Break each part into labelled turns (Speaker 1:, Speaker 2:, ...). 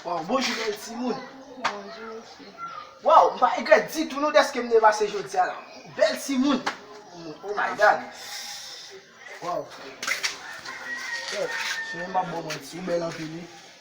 Speaker 1: Waw bonjou bèl timoun. Bonjou
Speaker 2: mesye. Waw m pa
Speaker 1: egret ditou nou deske m devase jodia la. Bèl timoun. Oh my god. Waw. Sou yon m ap bon mwen. Ou bèl anpil wi.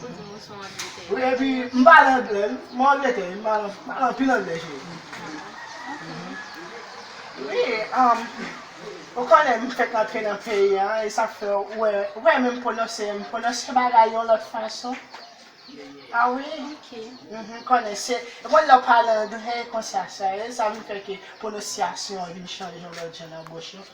Speaker 2: Good News son Angleterre. Wi epi m pale
Speaker 1: anglè wi m Angleterre wi m pale anpil anglè cheri. Wi um ou konnen m fèk antre nan peyi an e sak fè ou wè ou pa menm pwononse m pwononse bagay yon lòt fason a wi ou
Speaker 2: konnen se
Speaker 1: ou konnen lè ou pale anglè konsa sa e sa vin fè ke pwononsyasyon an vin chanje yon lòt jan nan bouch ou.